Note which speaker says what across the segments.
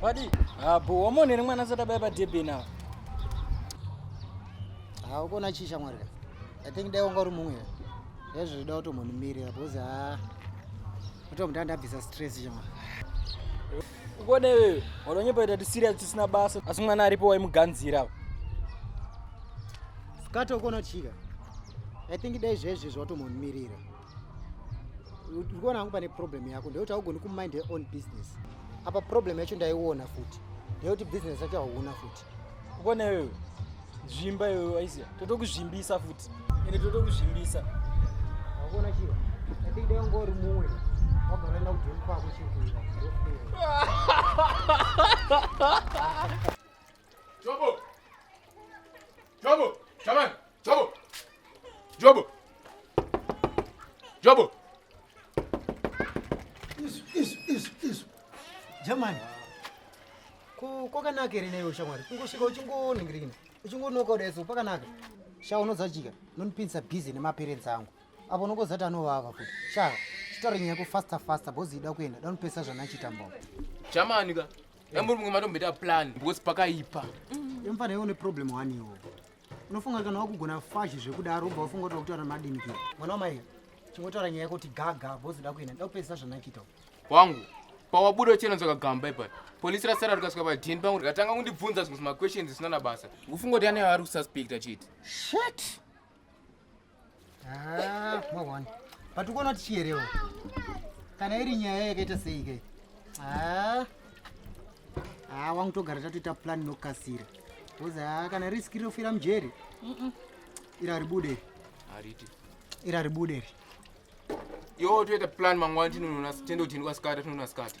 Speaker 1: Wadi? Abo wamonere mwana asati abaya padebhe nawo. Ha ukona chii shamwari ka? I think dai wanga uri mumwe. Hezvo zvida kutombonimire apo uzi ha. Utomutanda abvisa stress shamwari. Ukoda iwewe, wanonyepa ita tisirias tisina basa. Asi mwana aripo waimuganzira. Skato ukona chika. I think dai zvezvi zvatomumirira. Ukoona hangu pane problem yako ndekuti haugoni kumind your own business. Apa problem yacho ndaiona futi. Ndekuti business yacho hauna futi. ukona iwewe zvimba iwewe waiziva totokuzvimbisa futi ende totokuzvimbisa wakona chiro atidai unga uri mumwe wagara enda kujoni kwako chikuita Jobo! Jobo! Shaman! Jobo. Jobo. Jobo. Isu isu isu isu. Jamani. Ko kwakanaka here neyo shamwari. Kungosvika uchingoningirikina. Uchingonoka udeso pakanaka. Sha unodzajika. Nonipinsa busy nemaparents angu. Apo unokozati anovava futi. Sha chitaure nyaya yako faster faster bozi ida kuenda. Danopesa zvanachiita mbao. Jamani ka. Yamuri mumwe matombeta plan because pakaipa. Mm. Yamfana yone problem waniwo. unofunga kana wakugona fashi zvekudaro ubva wafunga kuti wakutaura madini pia mwana wamai chingotaura nyaya yekuti gaga bozoda kuenda nda kupedzisa zvanakiita wangu pawabuda uchinonzoka gamba ipa polisi rasara rikasvika padini pangu rikatanga kundibvunza zvimwe zvimaquestions zvisina na basa ufunga kuti ane vari kususpecta chiti shet Ah, mwaona but ukona kuti chiyerewo kana iri nyaya yakaita sei kai ah. ah, wangu togara tatoita plan inokasira bcause ah, kana riski rinofira mujeri ira ribude hariti ira ribude ri yo toita plan mangwana tinonona tende kuti ndikwasikata tinonona sikata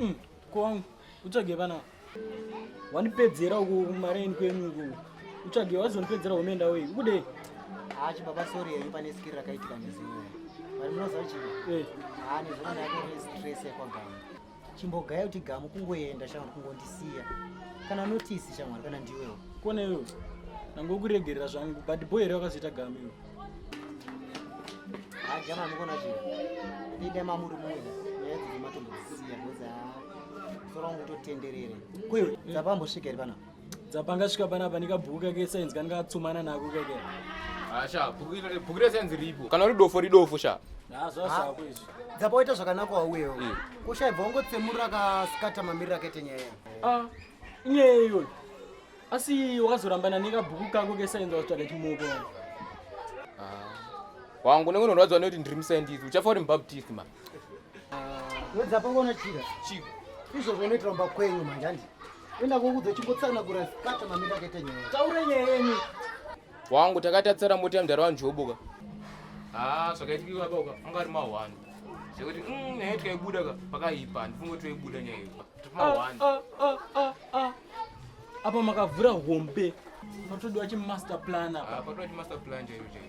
Speaker 1: Mm, kwangu utsvage vana wanipedzera uku kumareni kwenyu uku utsvage wazonipedzera umeenda wei ukudei haa chibaba sori yenyu pane skiri rakaitika nezimwe vari munoziva chii eh. haa nezvona yako stress yakwagama chimbogaya kuti gamu kungoenda shamwari kungondisiya kana notisi shamwari kana ndiwewo kona iwewo nangokuregerera zvangu but boy here wakazoita gamu iwe hajama mukona chii ida mamuri mumwe nyaya dzematombo dzisiya bcoz sora wangu totenderere kuiwe dzapambosvika iri panapa dzapanga svika panapa nekabhuku kake sainzi kani katsumana nako kake asha ah, bhuku resainzi ripo kana uri dofo ridofo sha zvazvako ah, izvi dzapa waita zvakanaka wauyewo hmm. kushaibva wangotsemurira akasikata mamiriro akaita nyaya ah, inyaya iyoyo asi wakazorambana nekabhuku kako kesainzi wazotsvaga chimoko wangu nekunorwadziwa nekuti ndiri musaindisi uchafa uri mubaptist mani Wedza pangona chira. Chiko. Izvo zvinoitwa mba kwenyu manje handi. Enda kokudzo chimbotsana kura sikata mamira kete nyaya. Taure nyaya yenyu. Wangu takatatsara mota mdara wanjoboka. Ah, zvakaitika baba uka. Anga ari mahwani. Zvekuti mm nyaya tikaibuda ka pakaipa. Ndifungo toibuda nyaya iyo. Mahwani. Ah, ah, ah, ah. Apa makavhura hombe. Patodiwa chi master plan apa. Ah, patodiwa chi master plan chaiyo chaiyo.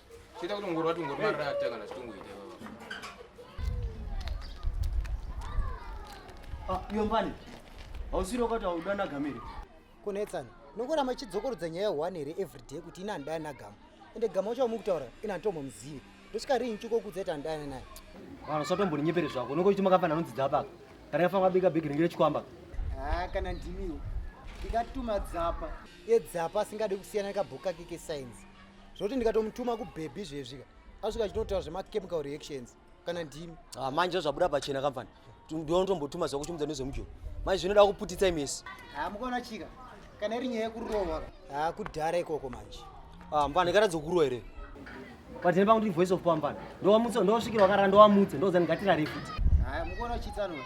Speaker 1: Chita kuti ngoro wati ngoro marara ataka na chitungu ite baba. Ah, yombani. Hausiro kwati haudana gamiri. Kunetsana. Nokora machidzokorodza nyaya one here every day kuti ina ndaya na gamu. Ende gamu wacho wamukutaura ina ntomo muzivi. Ndosvika rinhi chuko kudza ita ndaya naye. Vanhu satomboninyepere zvako. Nokora kuti makafana nodzidza apa. Kana yafa kwabika big ringire chikwamba. Ah, kana ndimiwo. Ndikatuma dzapa. Ye dzapa asingade kusiyana nekabhuku kake kesainzi. zvoti ndikatomutuma kubhebhi zvezvika asvika achitotaura zvemachemical reactions kana ndimi ah, manje ndozvabuda pachena kamfani ndinotombotuma ziva kuchimudza nezvemujoni manje zvinoda kuputitsa imesi ha ah, mukaona chika kana iri nyaya yekurohwa ha ah, kudhara ikoko manje ah, mfana ikatadza kurohwa here patene pangu ndiri voice of pamfana ndowamutsa ndowasvikira wakarara ndowamutsa ndozani ngatirarefuti haya mukuona uchitsanwa